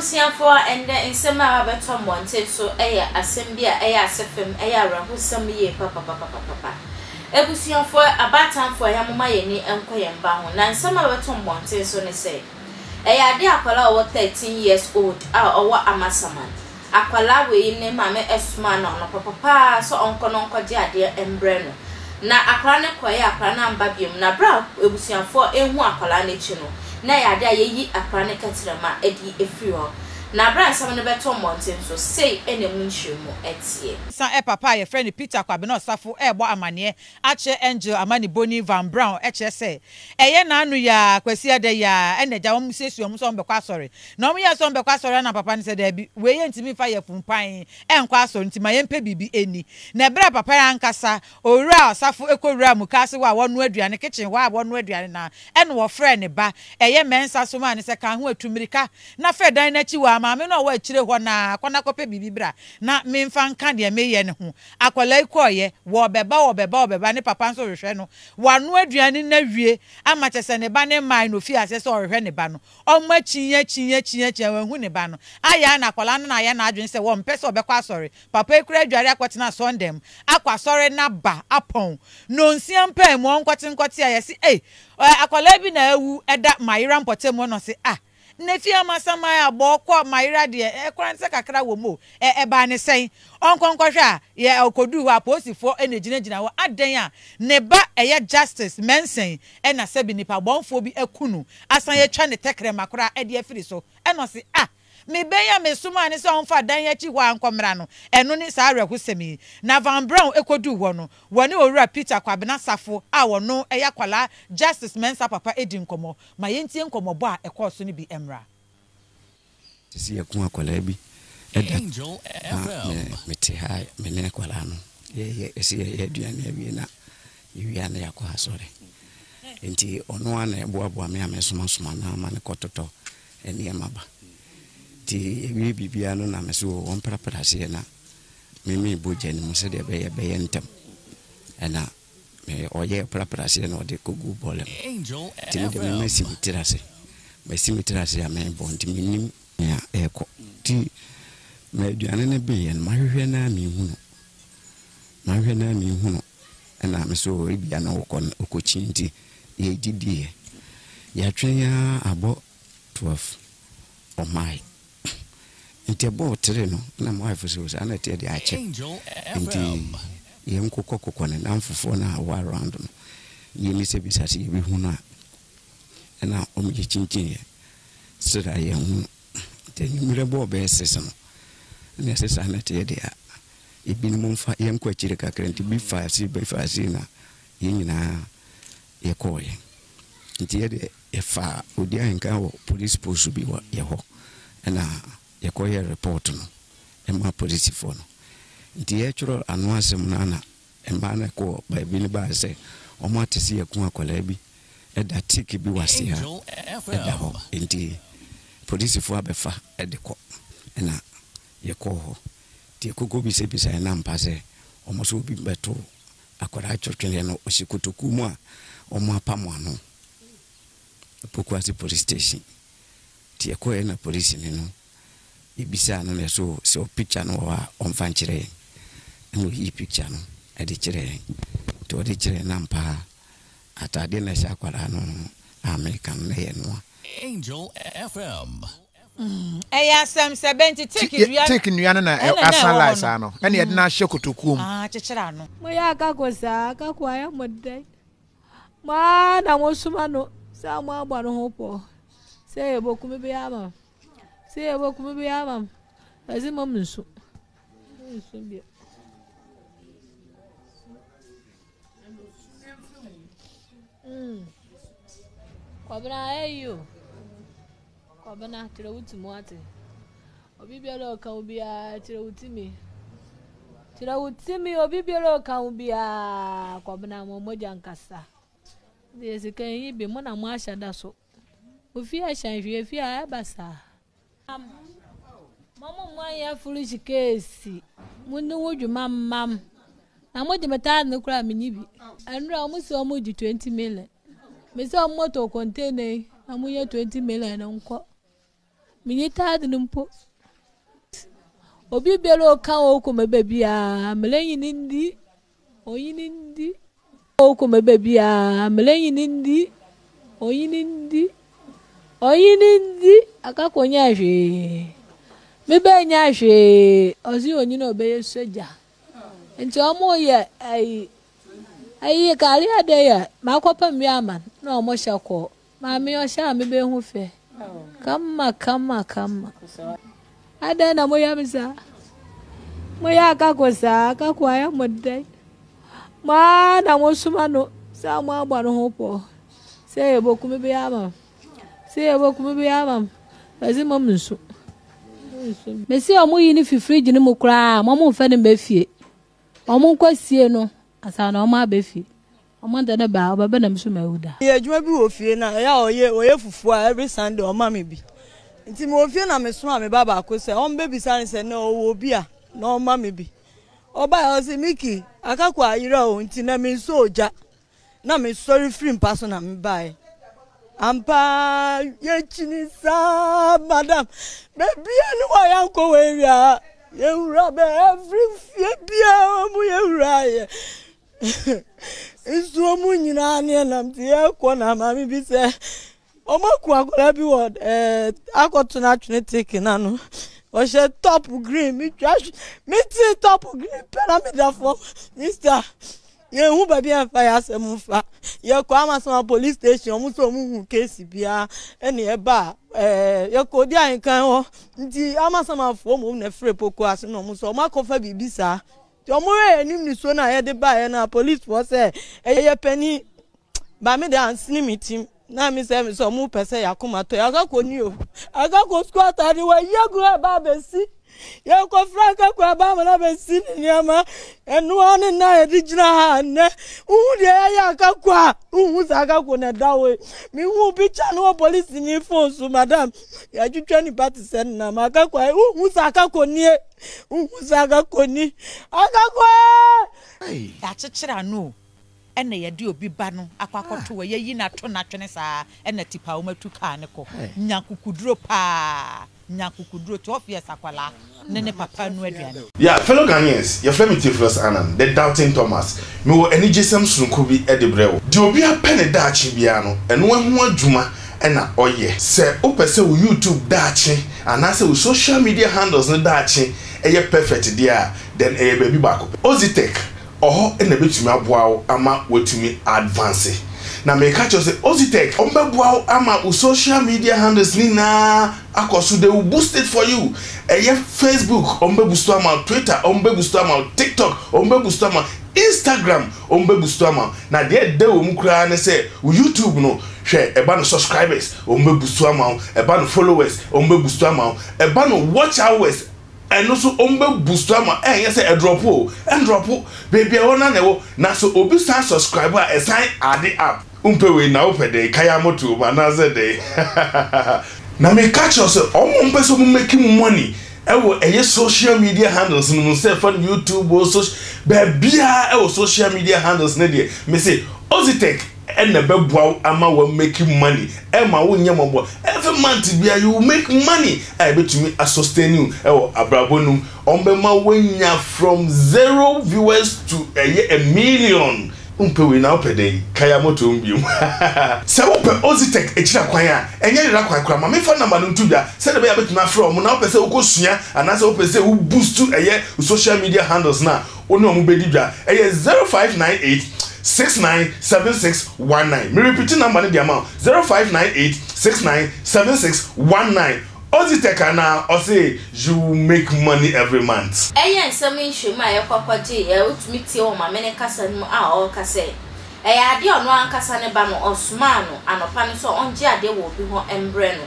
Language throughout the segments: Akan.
Abusuafoɔ, ɛndɛ nsɛm a abɛtɔ mmɔnten so yɛ asɛm bi a ɛyɛ asefem, ɛyɛ awerɛhosɛm yie papapapapapa. Abusuafoɔ, abaatanfoɔ, yɛmoma yɛn ani nkɔ yɛn mma ho. Na nsɛm a abɛto mmɔnten so ne sɛ, Ɛyɛ ade a akwadaa a ɔwɔ thirteen years old a ɔwɔ Amasaman. Akwadaa wei ne maame somaa no anɔpapa pa ara sɛ ɔnkɔ na ɔnkɔgye adeɛ mbrɛ no. Na akwadaa no kɔeɛ a akwadaa no amba biom. Na berɛ a abusuafoɔ ehu akwadaa no akyi no, na ɛyɛ ade a yɛyi akwadaa no kɛterɛma de afiri hɔ. Na berɛ a nsɛm no bɛtɔ mmɔnten nso, sei na emu nkyeremu teɛ. Sa-e papa a yɛfrɛ no Peter Kwabena Osafo rebɔ amanneɛ akyerɛ Angel Amannibɔni Van Braun kyerɛ sɛ ɛyɛ n'ano yi ara, Kwasiada yi ara, ɛna agya wɔn siesie wɔn sɛ wɔbɛkɔ asɔre. Na wɔyɛɛ sɛ wɔbɛkɔ asɔre ara na papa no sɛ, Dabi, wei yɛntumi mfa yɛ fumpann nkɔ asɔre nti ma yɛmpɛ biribi nni. Na ɛberɛ a papa no ankasa, owuraa ɔsafo kɔwuraa mukaase hɔ a wɔnoa aduane, kitchen hɔ a wɔnoa aduane no ara, ɛna ɔfrɛɛ ne ba, ɛyɛ Mensah somaa no sɛ, Ka ho a, tu mmirika na fa dan no akyi hɔ ara, maame no a ɔwɔ akyire hɔ no ara, kɔ na kɔpɛ biribi bra na memfa nka deɛ mereyɛ no ho. Akwadaa yi kɔeɛ, wɔrebɛba, wɔrebɛba, wɔrebɛba, ne papa nso rehwɛ no. Wanoa aduane no awie ama kyerɛ sɛ ne ba no mmaeɛ na ɔfii aseɛ sɛ ɔrehwɛ ne ba no. Ɔma akyin, akyin, akyin, akyin, wanhu ne ba no. Ayɛ ara na akwadaa no na ayɛ n'adwene sɛ ɔmpɛ sɛ ɔbɛkɔ asɔre. Papa yi koraa adware akɔtena asɔrdan mu, akɔ asɔre no aba, apɔn. Nnɔnsia mpaa mu, ɔnkɔte nkɔte a, yɛse ei, ɛ, akwadaa bi na awu da Mayera mpɔtam hɔ na ɔse ah, Nna fie a masan m'ayɛ a bɔɔ kɔ m'ayera deɛ ɛ kora nsɛ kakra wɔ mu o. Ɛ ɛbaa ne sɛn? Ɔnkɔ nkɔhwɛ a yɛ ɛ ɔkɔduu hɔ a apolisifoɔ na ɛgyinagyina hɔ adɛn a ne ba ɛyɛ Justice Mensing ɛna sɛbi nnipa bɔnfoɔ bi aku no asan yɛatwa ne tɛkrɛma koraa ɛde afiri so ɛna ɔse ah me ba yi a me somaa no sɛ ɔmfa dan yi akyi hɔ a nkɔ mmra no ɛno ne saa awerɛhosɛm yi. Na Van Braun ɛkɔduu hɔ no wɔne Owura Peter Kwabena Safoh a ɔno ɛyɛ akwadaa Justice Mensah papa ɛdi nkɔmmɔ. Ma yentie nkɔmmɔbɔ a ɛkɔɔ so no bi mmra. Sisi yɛko akwadaa bi da na me mete ha me ne akwadaa no yɛyɛ ɛsɛ yɛyɛ aduane awie na yɛwie a na yɛakɔ asɔre nti ɔno a na ɛboaboa me a mɛsomasoma no ama no kɔtotɔ nneɛma ba nti ɛwie biribiara no na me so wɔ wɔn prapraseɛ na meme bogya no mu sɛdeɛ ɛbɛyɛ bɛyɛ ntɛm ɛna Meyɛ ɔyɛ prapraaseɛ na ɔde kɔguu bɔɔlɛ mu. Nti me deɛ me masi me tiri ase. Masi me tiri ase a merebɔ nti mennim nea ɛrekɔ. Nti ma aduane no beeɛ no mahwehwɛ no ara menhunu. Mahwehwɛ no ara menhunu. Ɛna me so ebia na ɔkɔ no ɔkɔkyin nti yɛdidiiɛ. Yɛatwɛn ara abɔ 12 ɔmmaeɛ. Nti ɛbɔ wo tiri no na mo wife so saa na ɛteɛ deɛ akyɛ nti yɛn kokɔ kokɔ ne nan fofoɔ no a ɛwɔ around no yɛn mi sɛ bisa sɛ yɛbɛ hu no a ɛna wɔn yɛ kyinkyin yɛ sra yɛn hu nti enyimire bɔ ɔbɛyɛ six no na ɛsɛ saa na ɛteɛ deɛ a ebinom nfa yɛn kɔ akyire kakra nti bi fa ase bi fa ase na yɛn nyinaa yɛkɔɔeɛ. Nti yɛ deɛ yɛfaa odi ahenkan wɔ police post bi wɔ yɛ hɔ ɛna yɛkɔyɛɛ report no maa polisifoɔ no. Nti yɛretwerɛ ano asɛm no ara na mmaa no kɔɔ baabi no baaɛ sɛ wɔn ate sɛ yɛaku akwadaa bi da teak bi wɔ aseɛ a ɛda hɔ nti polisifoɔ abɛfa de kɔ ɛna yɛkɔɔ hɔ. Nti ɛkokɔ bisabisaeɛ na ampa sɛ wɔn nso obi bɛtoo akwadaa twetwere no ɔhyɛ kotoku mu a wɔapamo ano Pokuase police station nti yɛkɔeɛ na polisini no yɛbisaa no na so sɛ picture no wɔ hɔ a ɔmfa nkyerɛ yɛn ɛna ɔyii picture no de kyerɛ yɛn nti ɔde kyerɛ yɛn ampa ara ataadeɛ na ɛhyɛ akwadaa no a meka no na ɛyɛ noa. Angel FM. Ɛyɛ asɛm sɛ bɛn nti teak nnua no teak nnua no na asan lae saa no, ɛnna yɛde no ahyɛ kotokuo mu. Kyekyere ano. Moyɛ akako saa, akako ayɛ mo dɛn? Mo ara na mosoma no sɛ moabɔ no ho pɔ sɛ yɛbɛkum bi ama m, sɛ yɛbɛkum bi ama m, ɛse mo mensu. Mensu bio. Mm. Kɔbena ayɛ yi o. Kwabena, kyerɛ wo ti mu ate. Obi biara ɔka wo biara, kyerɛ wo ti mi. Kyerɛ wo ti mi, obi biara ɔka wo biara, Kwabena mo mogya nkasa. Deɛ sika yi bi, mo na mo ahyɛ da so. Ofi ahyɛn hwee fi a ɛba saa. Mo mo mo anyɛ foolish keesi, mo ne wo dwuma mmam. Na mo gye me taa ne kora menyi bi. Ɛnura wɔn si wɔn gye twenty million. Mese ɔmo tɔ container yi na ɔmo yɛ twenty million nkɔ. Menye taade no mpo. Obi biara ɔka wɔ okoma baabiara mele nyi ne ndi. Onyi ne ndi. Okoma baabiara mele nyi ne ndi. Onyi ne ndi. Onyi ne ndi. Akako nya hwee. Mebe nya hwee. Ɔsi onyi na ɔbɛyɛ sogya. Nti ɔmo yɛ ayi. Ayi kari ade yɛ makɔ pam bi ama na ɔmo hyɛ kɔɔ. Maame ɔhyɛ a mebe ho fɛ. Kama kama kama. Adɛn na moyɛ me saa? Moyɛ akako saa, akako ayɛ mo dɛn? Mo ara na mosoma no sɛ mo abɔ no ho pɔɔ. Sɛ yɛbɛku me bi ama m. Sɛ yɛbɛku me bi ama m. Bɛse mom nsu. Mese ɔmo yi no fi fridge no mu koraa, mom mfa no mma fie. Ɔmo nkɔ sie no ansa na ɔmo abɛ fie. Ɔmo de no ba a ɔbɛ bɛ na me so ma awu da. Meyɛ adwuma bi wɔ fie na ɛyɛ a ɔyɛ ɔyɛ fufuo a every Sunday ɔma me bi nti mewɔ fie na me soma me ba baako sɛ ɔmbɛ bisa no sɛ nnɛ ɔwɔ obi a na ɔma me bi ɔbaeɛ ɔse Mickey akakua ayera o nti nnɛ me nsɔ ogya na mesɔre firi mpa so na mebaeɛ ampa yɛkyini saa madam bɛbia ne wɔ yɛnkɔ wɔ awia yɛwura bɛ ɛfiri fie bia ɔmu yɛwuraeɛ nsuo mu nyinaa ne ɛnam te yɛkɔ na maame bi sɛ Wɔaku akwadaa bi wɔ ɛɛ akɔto no atwene teke no ano. Ɔhyɛ top green. Metwa metee top green pɛ na meda fam. Mista yɛnhu baabi a mfa yɛ asɛm mfa. Yɛkɔ Amasoma police station wɔn nso wɔn hu case biara ɛne ɛba ɛɛ yɛkɔ di ahenkan hɔ nti Amasomafoɔ mmom na ɛfrɛ poko ase na wɔn nso wɔn akɔfa biribi saa. Nti wɔn yɛ anim nisuo na yɛde baeɛ na policefoɔ sɛ ɛyɛ panin Ba me de ansene me tim na me sɛ me sɛ ɔmo pɛ sɛ yakoma tɔ yakakɔ ni o akakɔ sukuu atade wɔ yɛ gu ɛba abɛsi yɛkɔ fra akakɔ ɛba ama na bɛsi ne nneɛma ɛnoa ne na yɛde gyina ha nnɛ wohu deɛ yɛyɛ akakɔ a wohu sɛ akakɔ na ɛda hɔ yi mehu bi kya no wɔ polisi ni fon so madam yɛatwitwa nipa te sɛ nnam akakɔ a wohu sɛ akakɔ nie wohu sɛ akakɔ ni akakɔ yɛakyekyere ano o Ɛna yɛde obi ba no akɔ akɔto hɔ, yɛayi no ato natwene saa ɛna tipa wɔn atu kaa no kɔ. Nya kukuduro paa, nya kukuduro, twelve years akwadaa ne ne papa renu aduane. Yeah, fellow Ghanaians, yɛfrɛ me Theophilus Annan, the Doubting Thomas. Mewɔ anigyesɛm sononko bi de brɛ wo. Deɛ obiara pɛ ne daakye biara no, ɛno ho adwuma na ɔyɛ. Sɛ wopɛ sɛ wo YouTube daakye anaasɛ wo social media handles no daakye yɛ perfect deɛ a, then ɛyɛ baabi baako pɛ, Ozitech. Ɔhɔ na ɛbɛtumi aboa wo ama woatumi a advance. Na meka kyerɛ wo sɛ Ozitech wɔn bɛboa wo ama wo social media handles ne nyinaa akɔ so, they will boost it for you. Ɛyɛ Facebook wɔn bɛ boost ama wo, Twitter wɔn bɛ boost ama wo, TikTok wɔn bɛ boost ama wo, Instagram wɔn bɛ boost ama wo. Na deɛ ɛda wɔ mu koraa ne sɛ wo YouTube no hwɛ ɛba no subscribers wɔn bɛ boost ama wo, ɛba no followers wɔn bɛ boost ama wo, ɛba no watch hours, Ɛno so wɔn bɛ boost ama ɛɛ nyɛ sɛ ɛdrop o ɛndrop baabi a ɛwɔ no ara na ɛwɔ na sɛ obi san subscribe a ɛsan add up wo mpɛ wei na wo pɛ dɛn ka ya mo to mu anaa sɛ dɛn hahahaha. Na me ka kyerɛ wo sɛ wɔn a wɔn pɛ sɛ wɔn make money ɛwɔ ɛyɛ social media handles no mu sɛ fa no youtube o soc baabiara ɛwɔ social media handles no deɛ me se Ozitech ɛna ɛbɛboa wo ama wa make money ɛma wo nyɛ mɔbɔ every month bia you make money a ɛbɛtumi a sustain you ɛwɔ abrabɔ no mu wɔn bɛma wanya from zero viewers to ɛyɛ a million wompɛ wei na wopɛ dɛn kaya moto mu biom hahaha. Sɛ wopɛ Oxitec akyiri akwan a ɛnyɛ yera kwan koraa ma memfa number no nto dwa sɛdeɛ ɛbɛyɛ a wobɛtumi afrɛ wɔn na wopɛ sɛ wokɔ sua anaasɛ wopɛ sɛ wo boost ɛyɛ wo social media handles no a Wo ne wɔn bɛdi dwa. Ɛyɛ zero five nine eight six nine seven six one nine. Me repiti number no de ama wo, zero five nine eight six nine seven six one nine. Ozitech anaa? Ɔse you make money every month. Ɛyɛ nsɛm nhyiam a yɛkɔ kɔgye yɛ, wotumi tie wɔn mamene kasa no mu a ɔreka sɛ, ɛyɛ adeɛ a ɔno ankasa ne ba no ɔsomaa no anɔpa no sɛ ɔngye adeɛ wɔ obi hɔ mbrɛ no,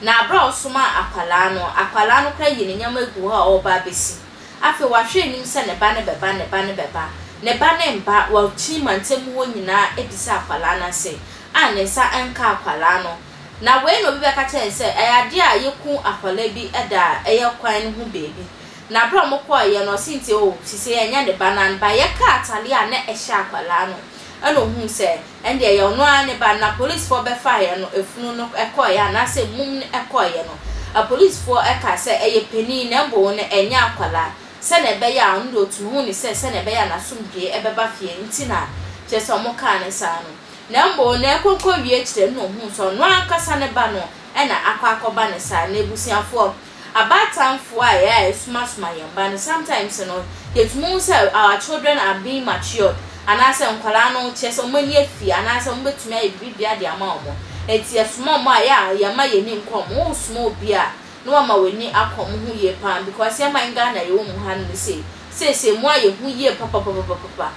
na aberɛ a ɔsomaa akwadaa no, akwadaa no koraa ayi ne nneɛma agu hɔ a ɔreba abɛsi. Afei wahwɛ anim sɛ ne ba no bɛba, ne ba no bɛba, ne ba no mba, wakyini mantam mu hɔ nyinaa abisa akwadaa no ase a ne nsa nka akwadaa no. Na wei na obi bɛka kyerɛ yɛn sɛ ɛyɛ adeɛ a yɛkuu akwadaa bi da a ɛyɛ kwan no ho baabi. Na berɛ a wɔkɔeɛ no ɔse nti oh, sisi ɛnyɛ ne ba no anba. Yɛkaa atadeɛ a na ɛhyɛ akwadaa no ɛna ɔhuu sɛ. Ɛnde ɛyɛ ɔno ara ne ba. Na polisfoɔ bɛfaeɛ no, efunu no kɔeɛ anaasɛ mum no kɔeɛ no, apolisfoɔ kaa sɛ, Ɛyɛ panin, na mmom no ɛnyɛ akwadaa, sɛdeɛ ɛbɛyɛ a ɔno deɛ ɔtuu huu no sɛ sɛdeɛ ɛbɛyɛ a n'asomdwoeɛ bɛba fie nti na kyerɛ sɛ wɔkaa no saa no. Na mmom no ɛrekɔ rekɔwie akyire no na ɔhuu sɛ ɔno ankasa ne ba no na akɔ akɔba no saa. Na abusuafoɔ. abaatanfoɔ a yɛa yɛsomasoma yɛn mma no sometimes no yɛtumi hu sɛ our children are being matured anaasɛ nkwadaa no kyerɛ sɛ wɔn ani afie anaasɛ wɔn bɛtumi ayɛ biribia de ama wɔn ɛti yɛsoma wɔn a yɛa yɛma yɛn ani nkɔ wɔn wosoma obi a na wama w'ani akɔ wɔn ho yie paa because yɛma yɛn Ghana yɛwɔ mu ha no ne sei seesei mu a yɛhu yie papapapapapa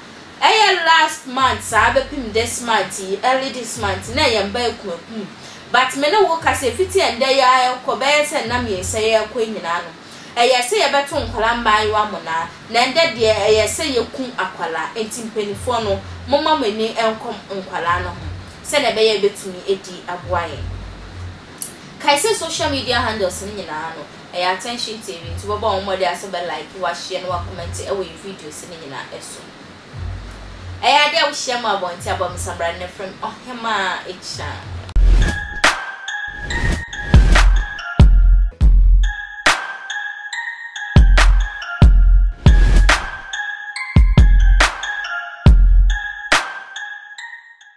Ɛyɛ last month saa bɛpem this month yi early this month na yɛn ba akumakum but me ne wo kasa ɛfiti ɛndɛ yi ara ɛkɔ bɛyɛ sɛ nna mmiɛnsa yi ɛkɔ nyinaa no ɛyɛ sɛ yɛbɛto nkwadaa mmaayewa monaa na ɛndɛ deɛ ɛyɛ sɛ yɛku akwadaa nti mpanifoɔ no momma mo ani nkɔ nkwadaa no ho sɛdeɛ ɛbɛyɛ ɛbɛtumi ɛdi aboa yɛn kae sɛ social media handles no nyinaa no Ɛyɛ attention TV nti wobɛbɔ wɔn mmɔden ara sɛ wobɛ like, woahyia na woakɔmɛnte ɛwɔ yɛn videos no nyinaa ɛso. Ɛyɛ adeɛ a wohyia mu abɔnten abɔmsambrane no frɛ me ɔhemaa Akyiraa.